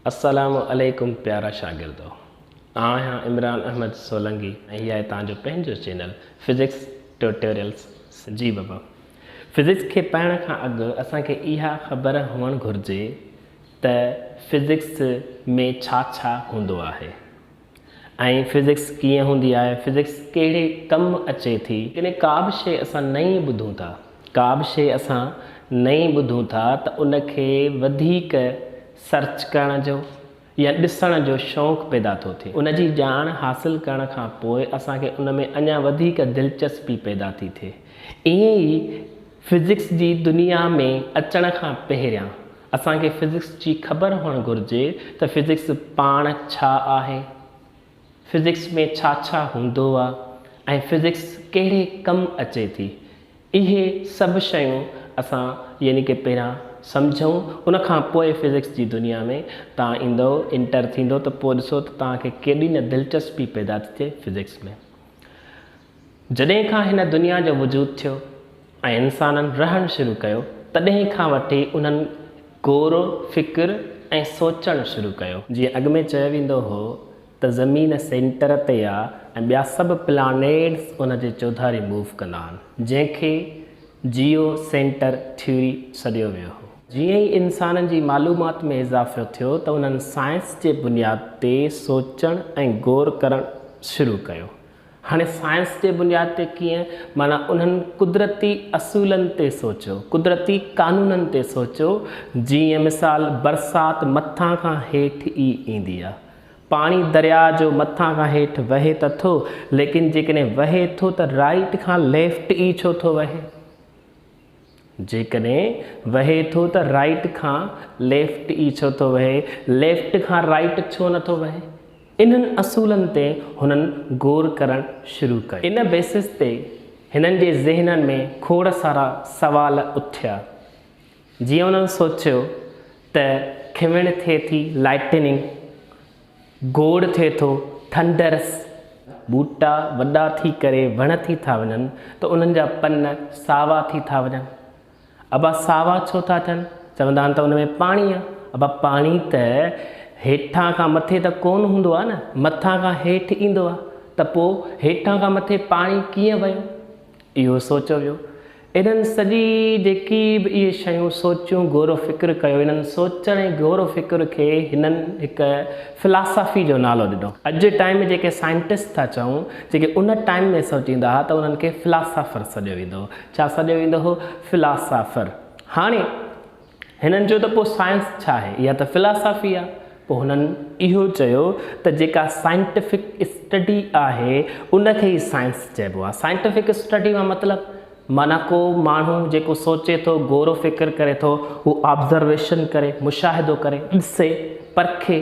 السلام عليڪم پيارا شاگردو آء آهيان عمران احمد سولنگي ۽ هي آهي تان جو پنهنجو چينل فزڪس ٽيوٽوريلز جي بابا فزڪس کي پڙهڻ کان اڳ اسان کي اها خبر هئڻ گهرجي ته فزڪس ۾ ڇا ڇا هوندو آهي ۽ فزڪس ڪيئن هوندي آهي، فزڪس ڪهڙي ڪم اچي ٿي. جڏهن ڪا به شيء اسان نئين ٻڌون ٿا، ڪا به شيء اسان نئين ٻڌون ٿا ته ان کي وڌيڪ سرچ ڪرڻ جو يا ڏسڻ جو شوق پيدا ٿو ٿئي. ان جي ڄاڻ حاصل ڪرڻ کان پوء اسان کي ان ۾ اڃا وڌيڪ دلچسپي پيدا ٿي ٿئي. ائين ئي فزڪس جي دنيا ۾ اچڻ کان پهريان اسان کي فزڪس جي خبر هئڻ گهرجي ته فزڪس پاڻ ڇا آهي، فزڪس ۾ ڇا ڇا هوندو آ ۽ فزڪس ڪهڙي ڪم اچي ٿي. اهي سڀ شيون اسان يعني ڪه پهريان سمجهون ان کان پوء فزڪس جي دنيا ۾ توهان ايندؤ انٽر ٿيندؤ ته پوء ڏسو ته توهان کي ڪيڏي نه دلچسپي پيدا ٿي ٿئي فزڪس ۾. جڏهن کان هن دنيا جو وجود ٿيو ۽ انسانن رهڻ شروع ڪيو، تڏهن کان وٺي انهن غور فڪر ۽ سوچڻ شروع ڪيو. جيئن اڳ ۾ چيو ويندو هو ته زمين سينٽر تي آ ۽ ٻيا سڀ پلانيٽس ان جي چوڌاري موو ڪندا آهن، جنهن کي جيو سينٽر ٿيوري سڏيو ويو هو. جيئن ئي انسانن جي معلومات ۾ اضافو ٿيو ته انهن سائنس جي بنياد تي سوچڻ ۽ غور ڪرڻ شروع ڪيو. هاڻي سائنس جي بنياد تي ڪيئن؟ معنيٰ انهن قدرتي اصولن تي سوچيو، قدرتي قانونن تي سوچيو، جيئن مثال برسات مٿان کان هيٺ ئي ايندي آهي. پاڻي درياء جو مٿان کان هيٺ وهي ته ٿو، ليڪن جيڪڏهن وهي ٿو ته رائيٽ کان ليفٽ ئي ڇو ٿو وهي؟ جيڪڏهن وهي ٿو ته رائيٽ کان ليفٽ ئي ڇو ٿو وهي، ليفٽ کان رائيٽ ڇو نه ٿو وهي؟ انهن اصولن تي هنن غور ڪرڻ شروع ڪيو. ان بيسس تي هنن جي ذهنن ۾ کوڙ سارا سوال اٿيا. جيئن انهن سوچيو ته کيوڻ ٿئي ٿي، Lightning، گوڙ ٿئي ٿو، ٿنڊرس، ٻوٽا وڏا ٿي ڪري وڻ ٿي ٿا وڃن ته انهن جا پن ساوا ٿي ٿا وڃن. ابا ساوا ڇو ٿا ٿين؟ چوندا آهن ته ان ۾ پاڻي آ. ابا پاڻي ته هيٺان کان مٿي ته ڪونه هوندو آ نه، مٿان کان هيٺ ايندو آ ته پوء هيٺان کان مٿي پاڻي ڪيئن ويو؟ اهو سوچيو ويو. انهن سڄي جيڪي به اهي شيون سوچيون غور و فڪر ڪيو انهن سوچڻ ۽ غور و فڪر کي هنن هڪ فلاسافي جو نالو ڏنو اڄ جي ٽائيم ۾ جيڪي سائنٽسٽ ٿا چئون جيڪي ان ٽائيم ۾ سوچيندا ها ته انهن کي فلاسافر سڏيو ويندو هو ڇا سڏيو ويندو هو فلاسافر هاڻي هنن چيو ته پوء سائنس ڇا آهي؟ اها ته فلاسافي آهي. پوء هنن اهو چيو ته جيڪا سائنٽفڪ اسٽڊي آهي ان کي ئي سائنس چئبو آهي. سائنٽفڪ اسٽڊي مان مطلب؟ معنيٰ ڪو ماڻهو جيڪو سوچي ٿو، غور و فڪر ڪري ٿو، هو آبزرويشن ڪري، مشاهدو ڪري، ڏسي، پرکي.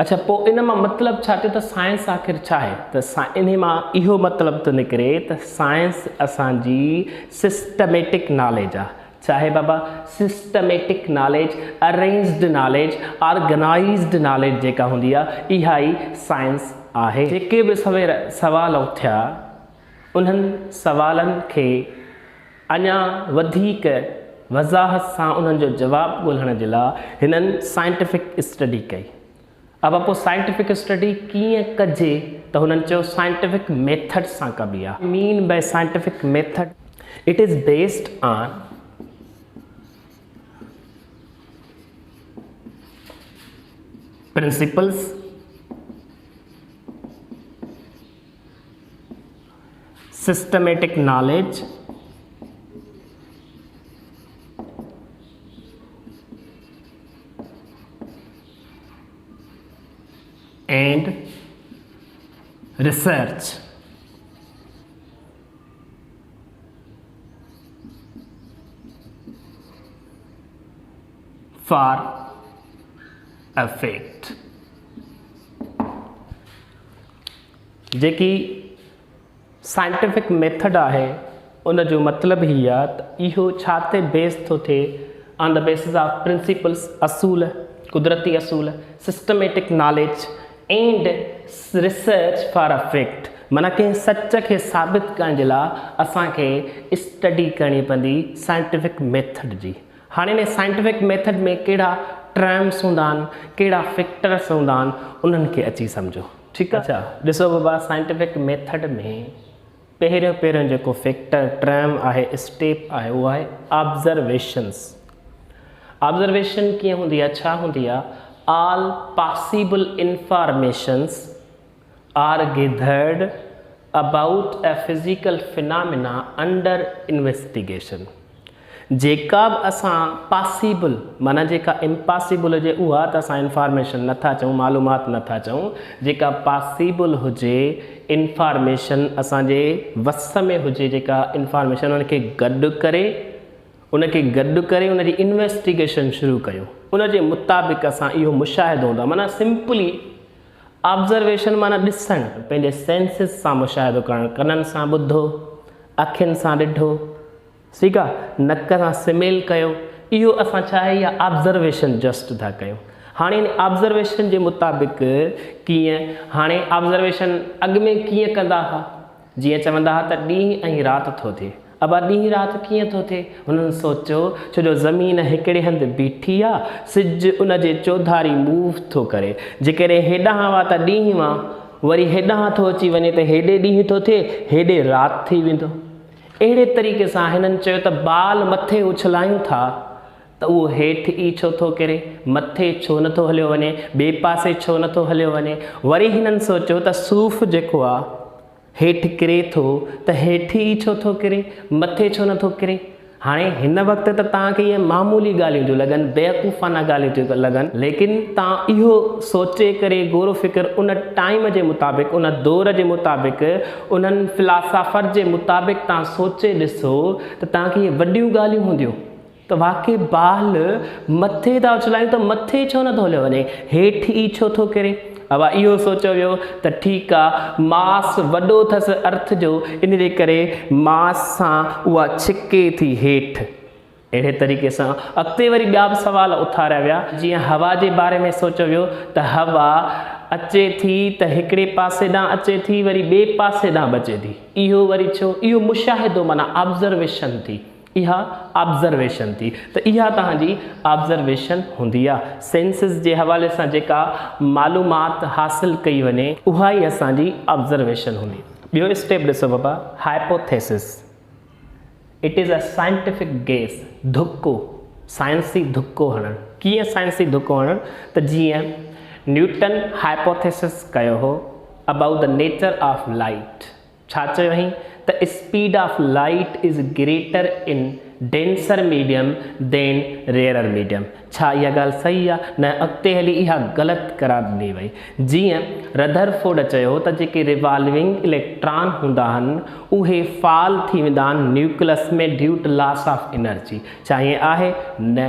اڇا پوء ان مان مطلب ڇا ٿيو ته سائنس آخر ڇا آهي؟ ته انهي مان اهو مطلب ٿو نڪري ته سائنس اسان جي سسٽميٽڪ ناليج آهي. ڇا آهي بابا؟ Systematic knowledge, arranged knowledge, organised knowledge جيڪا هوندي آهي اها ئي سائنس آهي. جيڪي به سوير سوال اٿيا انهن سوالن کي. اڃا وڌيڪ وضاحت سان انهن جو جواب ڳولهڻ جي لاء هنن سائنٽيفڪ اسٽڊي ڪئي. ابا پوء سائنٽيفڪ اسٽڊي ڪيئن ڪجي ته هنن چيو سائنٽيفڪ ميٿڊ سان ڪبي آ. Mean by scientific method? It is based on principles. Systematic knowledge, and research, for effect. جيڪي سائنٽيفڪ ميٿڊ آهي ان جو مطلب هي آ ته اهو ڇا تي بيس ٿو ٿئي on the basis of principles اصول قدرتي اصول systematic knowledge and research for effect معنيٰ ڪنهن سچ کي ثابت ڪرڻ جي لاء اسان کي اسٽڊي ڪرڻي پوندي سائنٽيفڪ ميٿڊ جي هاڻي انهي سائنٽفڪ ميٿڊ ۾ ڪهڙا ٽرمس هوندا آهن، ڪهڙا فيڪٽرس هوندا آهن، انهن کي اچي سمجهو. ٺيڪ آهي. ڏسو بابا سائنٽفڪ ميٿڊ ۾ پهريون پهريون جيڪو فيڪٽر، ٽرم، آهي، اسٽيپ آهي، اهو آهي آبزرويشنس. آبزرويشن ڪيئن هوندي آهي، ڇا هوندي آهي، all possible informations, are gathered, About a Physical Phenomena Under Investigation، جيڪا به اسان پاسيبل معنيٰ جيڪا امپاسيبل هجي اها ته اسان انفارميشن نه ٿا چئون، معلومات نه ٿا چئون، جيڪا پاسيبل هجي، انفارميشن اسان جي وس ۾ هجي جيڪا انفارميشن ان کي گڏ ڪري، ان کي گڏ ڪري ان جي انويسٽيگيشن شروع ڪيون، ان جي مطابق اسان اهو مشاهدو هوندو آهي معنيٰ سمپلي، Observation معنيٰ ڏسڻ، پنهنجي Senses سان مشاهدو ڪرڻ، ڪنن سان ٻڌو، اکين سان ڏٺو، ٺيڪ آ، نڪ سان Smell ڪيو، اهو اسان ڇا آهي اها Observation just ٿا ڪيون. هاڻي ان Observation جي مطابق ڪيئن، هاڻي Observation اڳ ۾ ڪيئن ڪندا ها؟ جيئن چوندا ها ته ڏينهن ۽ رات ٿو ٿئي. ابا ڏينهن رات ڪيئن ٿو ٿئي؟ هنن سوچيو، ڇو جو زمين هڪڙي هنڌ بيٺي آ، سج ان جي چوڌاري موو ٿو ڪري. جيڪڏهن هيڏانهن وا ته ڏينهن وا، وري هيڏانهن ٿو اچي وڃي ته هيڏي ڏينهن ٿو ٿئي، هيڏي رات ٿي ويندو. اهڙي طريقي سان هنن چيو ته بال مٿي اڇلايون ٿا. ته اهو هيٺ ئي ڇو ٿو ڪري، مٿي ڇو نه ٿو هليو وڃي، ٻئي پاسي ڇو نه ٿو هليو وڃي. وري هنن سوچيو ته صوف جيڪو آ، هيٺ ڪري ٿو ته هيٺ ئي ڇو ٿو ڪري، مٿي ڇو نه ٿو ڪري. هاڻي هن وقت ته توهان کي اهي معمولي ڳالهيون ٿيون لڳن، بيوقوفانه ڳالهيون ٿيون لڳن، ليڪن توهان اهو سوچي ڪري غور و فڪر ان ٽائيم جي مطابق، ان دور جي مطابق، انهن فلاسافر جي مطابق توهان سوچي ڏسو ته توهان کي اهي وڏيون ڳالهيون هونديون. ته واقعي بال مٿي ٿا اڇلايون ته مٿي ڇو نٿو هليو وڃي، هيٺ ئي ڇو ٿو ڪري؟ اوا اهو سوچيو ويو ته ٺيڪ آ، ماس وڏو اٿس ارٿ جو، ان جي ڪري ماس سان اها ڇڪي ٿي هيٺ. اهڙي طريقي سان اڳتي وري ٻيا به سوال اٿاريا ويا، جيئن هوا جي باري ۾ سوچيو ويو ته هوا اچي ٿي ته هڪڙي پاسي ڏانهن اچي ٿي وري ٻئي پاسي ڏانهن به اچي ٿي، اهو وري ڇو؟ اهو مشاهدو معنيٰ Observation ٿي. اها آبزرويشن ٿي ته اها توهان جي آبزرويشن هوندي آ. سينسز جي حوالي سان جيڪا معلومات حاصل ڪئي وڃي اها ئي اسان جي آبزرويشن هوندي. ٻيو اسٽيپ ڏسو بابا Hypothesis It is a scientific guess ڌڪو، سائنسي ڌڪو هڻڻ. ڪيئن سائنسي ڌڪو هڻڻ ته جيئن نيوٽن Hypothesis ڪيو هو About the nature of light. ڇا چيو هئين ته speed of light is greater in denser medium دين ريئرر ميڊيم ڇا اها ڳالهه صحيح آهي؟ نه اڳتي هلي اها غلط قرار ڏني وئي. جيئن رڌرفورڊ چيو ته جيڪي ريوالونگ اليڪٽران هوندا آهن اهي فال ٿي ويندا آهن nucleus ۾ due to loss of energy ڇا ائين آهي؟ نه.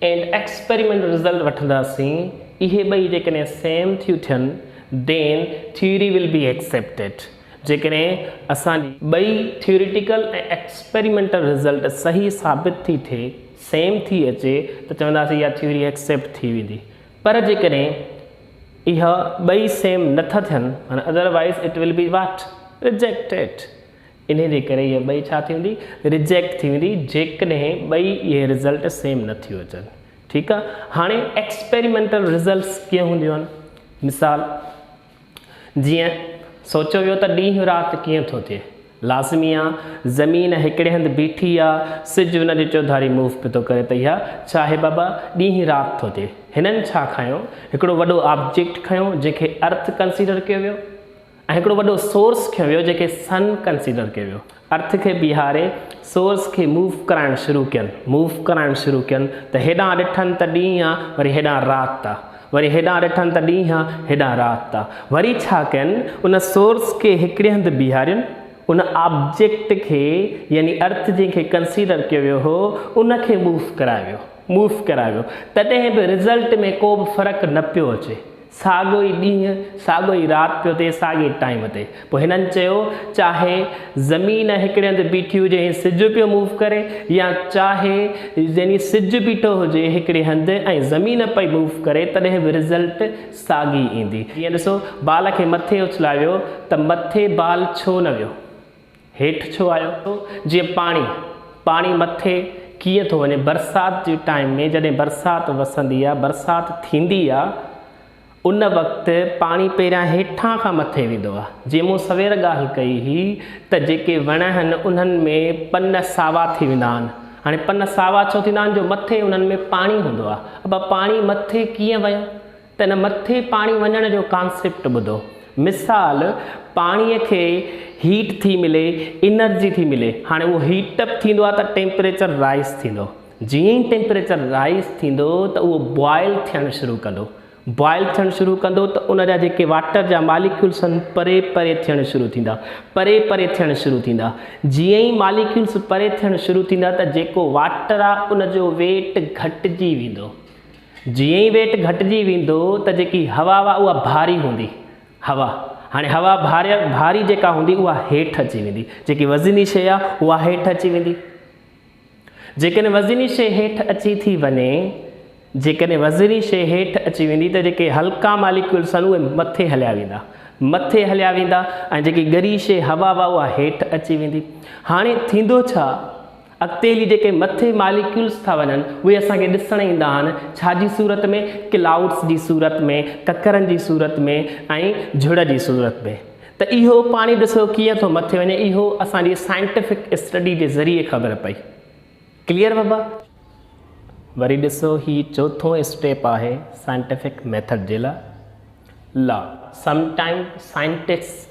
اينڊ ايڪسپريمينٽ رزلٽ وٺنداسين اهي ٻئي جيڪڏهن سيم ٿيون ٿين دين ٿيوري ول بي ايڪسيپٽيڊ جيڪڏهن اسان جي ٻئي ٿيوريٽيڪل ۽ ايڪسپريمينٽل رزلٽ صحيح ثابت ٿي ٿئي سيم ٿي اچي ته چونداسين اها ٿيوري ايڪسيپٽ ٿي ويندي پر جيڪڏهن اهي ٻئي سيم نه ٿا ٿين otherwise it will be what rejected انهيء جي ڪري هيء ٻئي ڇا ٿي ويندي؟ ريجيڪٽ ٿي ويندي جيڪڏهن ٻئي اهي رزلٽ سيم نه ٿيو اچن. ٺيڪ آ. هاڻي ايڪسپيريمينٽل رزلٽس ڪيئن هونديون؟ مثال، جيئن سوچيو ويو ته ڏينهن رات ڪيئن ٿو ٿئي. لازمي آ زمين هڪڙي هنڌ بيٺي آ، سج ان جي چوڌاري موو پيو ٿو ڪري ته اها ڇا آهي بابا؟ ڏينهن رات ٿو ٿئي. هنن ڇا کنيو؟ هڪڙو وڏو آبجيڪٽ کنيو جنهن کي ارٿ ڪنسيڊر ڪيو ويو. ۽ هڪڙو وڏو سورس کنيو ويو جنهن کي سن ڪنسيڊر ڪيو ويو ارٿ کي بيهاري سورس کي موو ڪرائڻ شروع ڪين موو ڪرائڻ شروع ڪين ته هيڏانهن ڏٺن ته ڏينهن آ وري هيڏانهن رات آ وري هيڏانهن ڏٺن ته ڏينهن آ هيڏانهن رات آ وري ڇا ڪين ان سورس کي هڪڙي هنڌ بيهارين ان آبجيڪٽ کي يعني ارٿ جنهن کي ڪنسيڊر ڪيو ويو هو ان کي موو ڪرايو ويو موو ڪرايو ويو تڏهن به رزلٽ ۾ ڪو به فرق نه پيو اچي ساڳيو ئي ڏينهن، ساڳيو ئي رات پيو ٿئي، ساڳئي ٽائيم تي. پوء هنن چيو، چاهي زمين هڪڙي هنڌ بيٺي هجي ۽ سج پيو موو ڪري يا چاهي يعني سج بيٺو هجي هڪڙي هنڌ ۽ زمين پئي موو ڪري تڏهن به رزلٽ ساڳي ايندي. جيئن ڏسو بال کي مٿي اڇلايو ويو ته مٿي بال ڇو نه ويو؟ هيٺ ڇو آيو ٿو جيئن پاڻي پاڻي مٿي ڪيئن ٿو وڃي برسات جي ٽائيم ۾ جڏهن برسات وسندي آهي برسات ٿيندي آهي ان وقت پاڻي پهريان هيٺان کان مٿي ويندو آهي جي مون سوير ڳالهه ڪئي هئي ته جيڪي وڻ آهن انهن ۾ پن ساوا ٿي ويندا آهن هاڻي پن ساوا ڇو ٿيندا آهن جو مٿي انهن ۾ پاڻي هوندو آهي ابا پاڻي مٿي ڪيئن ويو ته هن مٿي پاڻي وڃڻ جو ڪانسيپٽ ٻڌو. مثال، پاڻيء کي هيٽ ٿي ملي، انرجي ٿي ملي. هاڻي اهو هيٽ اپ ٿيندو آهي ته ٽيمپريچر رائيز ٿيندو. جيئن ئي ٽيمپريچر رائيز ٿيندو ته اهو بوائل ٿيڻ شروع ڪندو. بوائل ٿيڻ شروع ڪندو ته ان جا جيڪي واٽر جا ماليڪيولس آهن پري پري ٿيڻ شروع ٿيندا. پري پري ٿيڻ شروع ٿيندا. جيئن ئي ماليڪيولس پري ٿيڻ شروع ٿيندا ته جيڪو واٽر آهي ان جو ويٽ گهٽجي ويندو. جيئن ئي ويٽ گهٽجي ويندو ته جيڪي هوا هئا اها ڀاري هوندي هوا هاڻي هوا ڀاري ڀاري جيڪا هوندي اها هيٺ اچي ويندي جيڪي وزني شيء آهي اها هيٺ اچي ويندي جيڪڏهن وزني شيء هيٺ اچي ٿي وڃي جيڪڏهن وزني شيء هيٺ اچي ويندي ته جيڪي هلڪا ماليڪيولس آهن اهي مٿي هليا ويندا مٿي هليا ويندا ۽ جيڪي ڳري شيء هوا هوا اها هيٺ اچي ويندي هاڻي ٿيندو ڇا اڳتي هلي جيڪي مٿي ماليڪيولز ٿا وڃن اهي اسان کي ڏسڻ ايندا آهن ڇا جي صورت ۾ ڪلائوڊز جي صورت ۾ ڪڪرن جي صورت ۾ ۽ جھڙ جي صورت ۾ ته اهو پاڻي ڏسو ڪيئن ٿو مٿي وڃي اهو اسان جي سائنٽيفڪ اسٽڊي جي ذريعي خبر پئي ڪليئر بابا وري ڏسو هي چوٿون اسٽيپ آهي سائنٽيفڪ ميٿڊ جي لا لا سم ٽائم سائنٽسٽ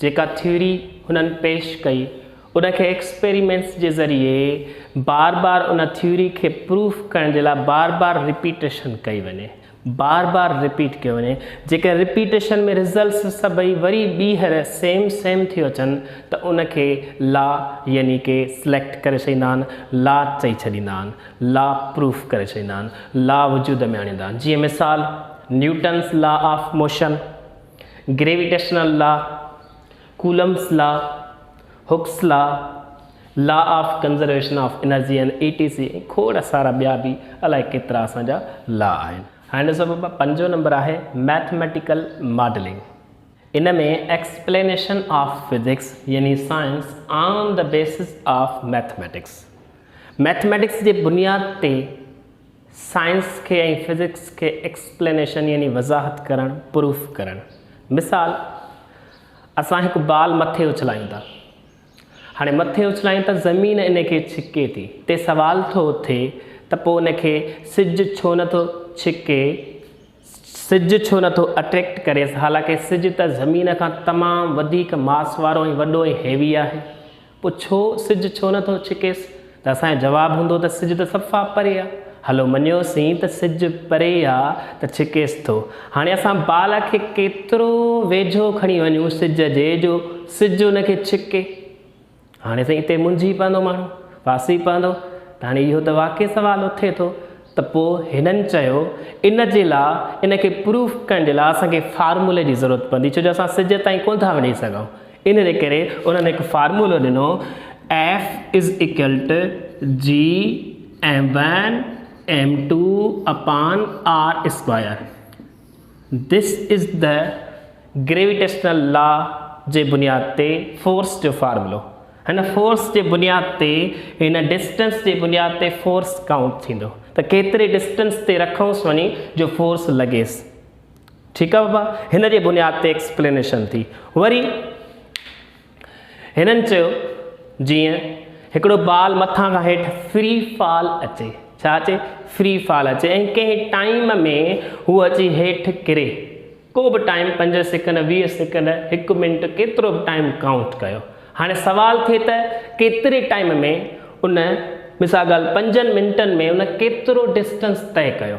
جيڪا ٿيوري هنن پيش ڪئي، ان کي ايڪسپيريمينٽس جي ذريعي بار بار ان ٿيوري کي پروف ڪرڻ جي لاء بار بار ريپيٽيشن ڪئي وڃي، بار بار ريپيٽ ڪيو وڃي، جيڪڏهن ريپيٽيشن ۾ ريزلٽس سڀئي وري ٻيهر سيم سيم ٿيو اچن ته ان کي لا يعني ڪي سليڪٽ ڪري ڇڏيندا آهن، لا چئي ڇڏيندا آهن، لا پروف ڪري ڇڏيندا آهن، لا وجود ۾ آڻيندا آهن، جيئن مثال Newton's law of motion. Gravitational law, Coulomb's law, Hooke's law, law of conservation of energy ۽ E T C ۽ کوڙ سارا ٻيا به الائي ڪيترا اسان جا لا آهن. هاڻي ڏسو بابا پنجون نمبر آهي ميٿميٽيڪل ماڊلنگ ان ۾ ايڪسپلينيشن آف فزڪس يعني science on the basis of mathematics mathematics جي بنياد تي سائنس کي ۽ فزڪس کي ايڪسپلينيشن يعني وضاحت ڪرڻ، پروف ڪرڻ. مثال، اسان هڪ بال مٿي اڇلايون ٿا. هاڻي مٿي اڇلايون ته زمين ان کي ڇڪي ٿي. تي سوال ٿو اٿي ته پوء ان کي سج ڇو نه ٿو ڇڪي؟ سج ڇو نٿو اٽريڪٽ ڪريس حالانڪه سج ته زمين کان تمام وڌيڪ ماس وارو ۽ وڏو ۽ هيوي آهي پوء ڇو سج ڇو نٿو ڇڪيس ته اسان جو جواب هوندو ته سج ته صفا پري آ هلو مڃيوسين ته سج پري آ ته ڇڪيس ٿو هاڻي اسان بال کي ڪيترو ويجهو کڻي وڃون سج جي جو سج ان کي ڇڪي. هاڻي سائين اتي منجهي پوندو ماڻهو، ڦاسي پوندو ته هاڻي اهو ته واقعي سوال اٿي ٿو ته پوء هنن چيو ان جي لا ان کي پروف ڪرڻ جي لا اسان کي فارمولي جي ضرورت پوندي ڇو جو اسان سج تائين ڪونه ٿا وڃي سگهون ان جي ڪري انهن هڪ فارمولو ڏنو F is equal to G M one M two upon R square This is the Gravitational Law جي بنياد تي فورس جو فارمولو هن فورس جي بنياد تي هن ڊسٽنس جي بنياد تي فورس ڪائونٽ ٿيندو ته ڪيتري ڊسٽنس تي رکونس وڃي جو فورس لڳيس ٺيڪ آ بابا هن جي بنياد تي ايڪسپلينيشن ٿي وري هنن چيو جيئن هڪڙو بال مٿان کان هيٺ فري فال اچي، ڇا اچي؟ فري فال اچي ۽ ڪنهن ٽائيم ۾ هو اچي هيٺ ڪري، ڪو به ٽائيم پنج سيڪنڊ، ويهه سيڪنڊ، هڪ منٽ ڪيترو به ٽائيم ڪائونٽ ڪيو. هاڻي سوال ٿئي ته ڪيتري ٽائيم ۾ ان مثال ڳالهه پنجن منٽن ۾ ان ڪيترو ڊسٽنس طئي ڪيو؟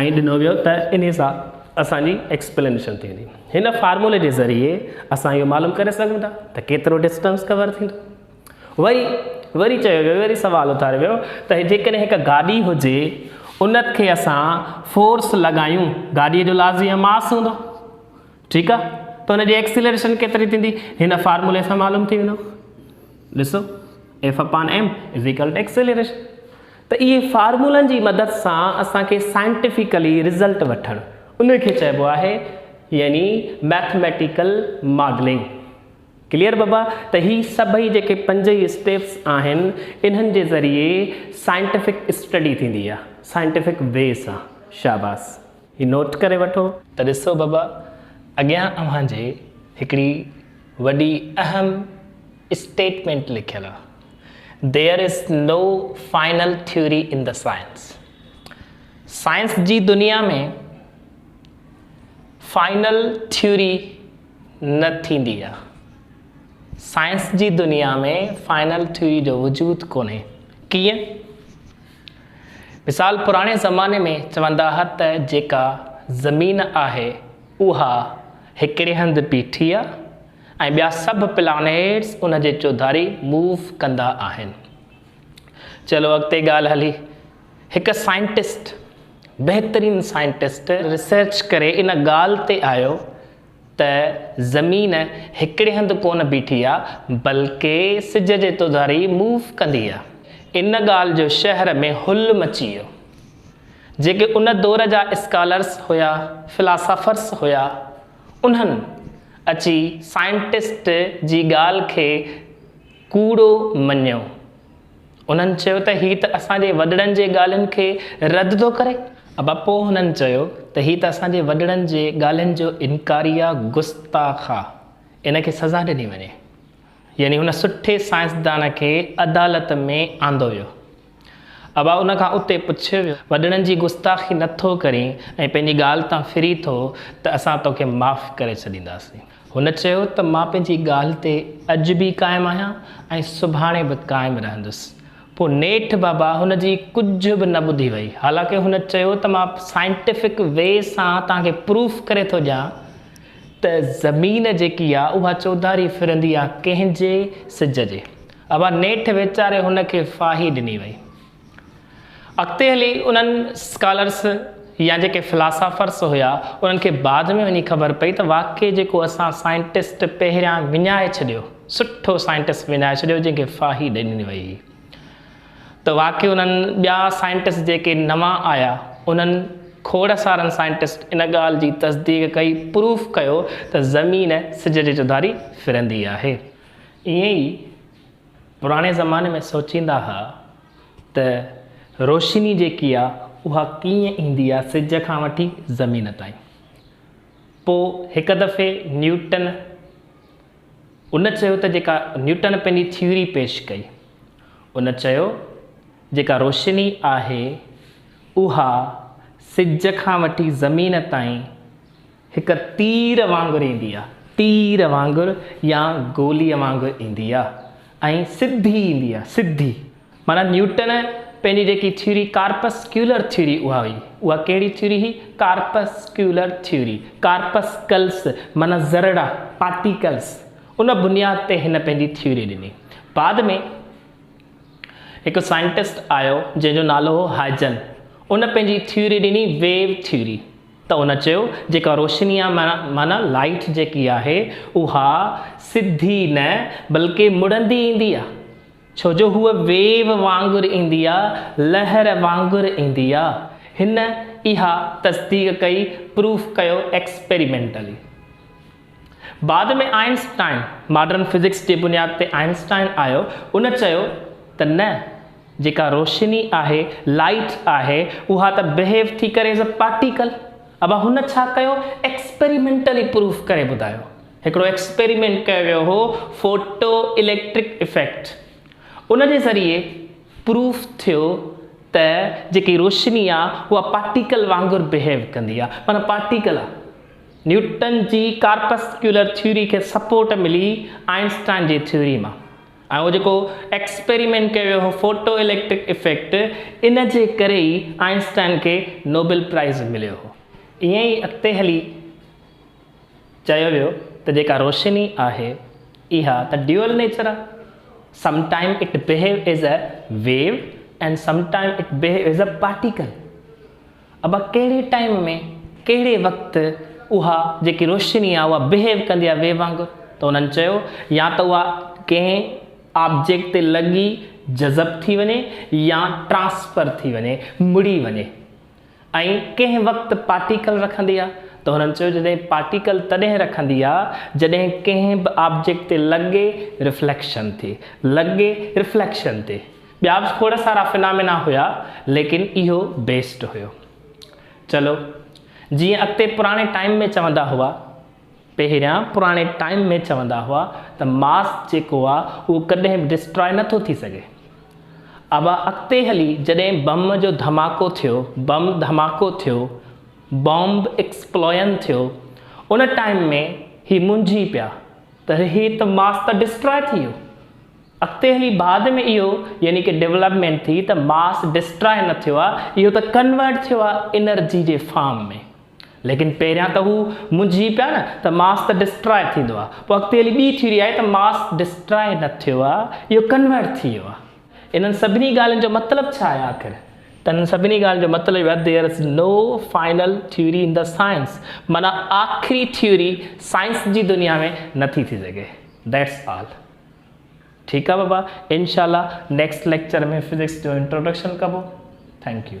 ائين ڏنو ويو ته انهي سان اسان جي ايڪسپلينيشن ٿي ويندي هن فارمولي جي ذريعي اسان اهو معلوم ڪري سگهون ٿا ته ڪيترو ڊسٽنس ڪور ٿيندو وري وري چيو ويو وري سوال اٿاريو ويو ته جيڪڏهن هڪ گاڏي هجي ان کي اسان فورس لڳايون گاڏيء جو لازمي ماس هوندو ٺيڪ آ ته ان جي ايڪسلريشن ڪيتري ٿيندي هن فارمولي سان معلوم ٿي ويندو ڏسو F upon M is equal to acceleration ته اهي فارمولن جي مدد سان اسان کي سائنٽيفڪلي رزلٽ وٺڻ ان کي چئبو آهي يعني ميٿميٽيڪل ماڊلنگ. ڪليئر بابا ته هي سڀئي جيڪي پنج ئي اسٽيپس آهن انهن جي ذريعي سائنٽيفڪ اسٽڊي ٿيندي آهي سائنٽيفڪ وي سان شاباس هي نوٽ ڪري وٺو. ته ڏسو بابا اڳيان اوهان جي هڪڙي وڏي اهم. اسٽيٽمينٽ لکيل هو There is no final theory in the science science جي دنيا ۾ فائنل ٿيوري نه ٿيندي آهي سائنس جي دنيا ۾ فائنل ٿيوري جو وجود ڪونهي ڪيئن مثال پراڻي زماني ۾ چوندا ها ته جيڪا زمين آهي اها هڪڙي هنڌ بيٺي آهي ۽ ٻيا سڀ پلانيٽس ان جي چوڌاري موو ڪندا آهن. چلو اڳتي ڳالهه هلي. هڪ سائنٽسٽ، بهترين سائنٽسٽ، ريسرچ ڪري ان ڳالهه تي آيو ته زمين هڪڙي هنڌ ڪونه بيٺي آ بلڪه سج جي توڌاري موو ڪندي آ. ان ڳالهه جو شهر ۾ هل مچي ويو. جيڪي ان دور جا اسڪالرس هيا، فلاسافرس هيا، انهن اچي سائنٽسٽ جي ڳالهه کي ڪوڙو مڃيو. انهن چيو ته هي ته اسان جي وڏڙن جي ڳالهين کي رد ٿو ڪري. ابا پوء هنن چيو ته هي ته اسان جي وڏڙن جي ڳالهين جو انڪاري آ، گستاخ آ. ان کي سزا ڏني وڃي. يعني هن سٺي سائنسدان کي عدالت ۾ آندو ويو. ابا ان کان اتي پڇ، وڏڙن جي گستاخي نه ٿو ڪرين ۽ پنهنجي ڳالهه تان ڦري ٿو ته اسان توکي معاف ڪري ڇڏينداسين. هن چيو ته مان پنهنجي ڳالهه تي اڄ به قائم آهيان ۽ سڀاڻي به قائم رهندس. پوء نيٺ بابا هن جي ڪجهه به نه ٻڌي وئي. حالانڪه هن چيو ته مان سائنٽيفڪ وي سان توهان کي پروف ڪري ٿو ڏيان ته زمين جيڪي آهي اها چوڌاري ڦرندي آهي ڪنهن جي؟ سج جي. اها نيٺ ويچاري هن کي ڦاهي ڏني وئي. اڳتي هلي انهن اسڪالرس يا جيڪي فلاسافرس هيا انهن کي بعد ۾ وڃي خبر پئي ته واقعي جيڪو اسان سائنٽسٽ پهريان وڃائي ڇڏيو، سٺو سائنٽسٽ وڃائي ڇڏيو جنهن کي ڦاهي ڏني وئي هئي ته واقعي انهن ٻيا سائنٽسٽ جيڪي نوان آيا انهن کوڙ سارن سائنٽسٽ ان ڳالهه جي تصديق ڪئي، پروف ڪيو ته زمين سج جي چوڌاري ڦرندي آهي. ائين ئي پراڻي زماني ۾ سوچيندا ھئا ته روشني جيڪي آ اھا ڪيئن ايندي آ سج کان وٺي زمين تائين. پوء ھڪ دفعي نيوٽن ان چيو ته جيڪا نيوٽن پنھنجي ٿيوري پيش ڪئي ان چيو جيڪا روشني آھي اھا سج کان وٺي زمين تائين هڪ تير وانگر ايندي آ، تير وانگر يا گوليء وانگر ايندي آ ۽ سڌي ايندي آ، سڌي. معنيٰ نيوٽن پنهنجي جيڪي ٿيوري ڪارپسڪيولر ٿيوري اها هئي. اها ڪهڙي ٿيوري هئي؟ Corpuscular theory. ڪارپسڪلس معنيٰ ذرڙا، پارٽيڪلس. ان بنياد تي هن پنهنجي ٿيوري ڏني. بعد ۾ هڪ سائنٽسٽ آيو جنهن جو نالو هو هائجن. ان پنهنجي ٿيوري ڏني ويو ٿيوري. ته ان چيو، جيڪا روشني آ، معنيٰ لائيٽ جيڪي آهي، اها سڌي نه بلڪه مڙندي ايندي آ، ڇو جو هوء ويو وانگر ايندي آ، لهر وانگر ايندي آ. هن اها تصديق ڪئي، پروف ڪيو ايڪسپيريمينٽلي. بعد ۾ آئنسٽائن، ماڊرن فزڪس جي بنياد تي آئنسٽائن آيو، ان چيو ته نه، جيڪا روشني آهي، Light، آهي، اها ته Behave ٿي ڪري as a Particle. ابا هن ڇا ڪيو، Experimentally پروف ڪري ٻڌايو. هڪڙو ايڪسپيريمينٽ ڪيو ويو هو، فوٽو اليڪٽرڪ افيڪٽ، ان جي ذريعي پروف ٿيو ته جيڪي روشني آهي، اها پارٽيڪل وانگر بهيو ڪندي آهي، معنيٰ پارٽيڪل آهي. نيوٽن جي ڪارپسڪيولر ٿيوري کي سپورٽ ملي آئنسٽائن جي ٿيوري مان ۽ اهو جيڪو ايڪسپيريمينٽ ڪيو ويو هو فوٽو اليڪٽرڪ افيڪٽ ان جي ڪري ئي آئنسٽائن کي نوبل پرائز مليو هو ائين ئي اڳتي هلي چيو ويو ته جيڪا روشني آهي اها ته ڊيول نيچر آهي some time it behaves as a wave and some time it behaves as a particle ابا ڪهڙي ٽائيم ۾ ڪهڙي وقت اها جيڪي روشني آ اها بهيو ڪندي آ ويو وانگر ته انهن چيو يا ته اها ڪنهن آبجيڪٽ تي لڳي جذب ٿي وڃي يا ٽرانسفر ٿي وڃي مڙي وڃي ۽ ڪنهن وقت پارٽيڪل رکندي آ ته انهن چيو جڏهن پارٽيڪل تڏهن رکندي آ جڏهن ڪنهن به آبجيڪٽ تي لڳي رفليڪشن ٿي لڳي رفليڪشن تي ٻيا به کوڙ سارا فنامينا هيا ليڪن اهو بيسٽ هيو. چلو جيئن اڳتي پراڻي ٽائيم ۾ چوندا هئا پهريان پراڻي ٽائيم ۾ چوندا هئا ته ماس جيڪو آ اهو ڪڏهن به ڊسٽراء نه ٿو ٿي سگهي. ابا اڳتي هلي جڏهن بم جو ڌماڪو ٿيو بم ڌماڪو ٿيو بامب ايڪسپلوئن ٿيو ان ٽائيم ۾ هي منجهي پيا ته هي ته ماس ته ڊسٽراء ٿي ويو. اڳتي هلي بعد ۾ اهو يعني ڪه ڊولپمينٽ ٿي ته ماس ڊسٽراء نه ٿيو آ اهو ته ڪنورٽ ٿيو آ انرجي جي فارم ۾ ليڪن پهريان ته هو منجهي پيا نه ته ماس ته ڊسٽراء ٿيندو آ پوء اڳتي هلي ٻي ٿيوري آئي ته ماس ڊسٽراء نه ٿيو آ اهو ڪنورٽ ٿي ويو آ انهن سڀني ڳالهين جو مطلب ڇا آهي آخر؟ ته انهن سڀني ڳالهين جو مطلب اهو آهي There is no final theory in the science معنيٰ آخري ٿيوري سائنس جي دنيا ۾ نه ٿي ٿي سگهي That's all. ٺيڪ آ بابا انشاء الله نيڪسٽ ليڪچر ۾ فزڪس جو انٽروڊڪشن ڪبو ٿينڪ يو.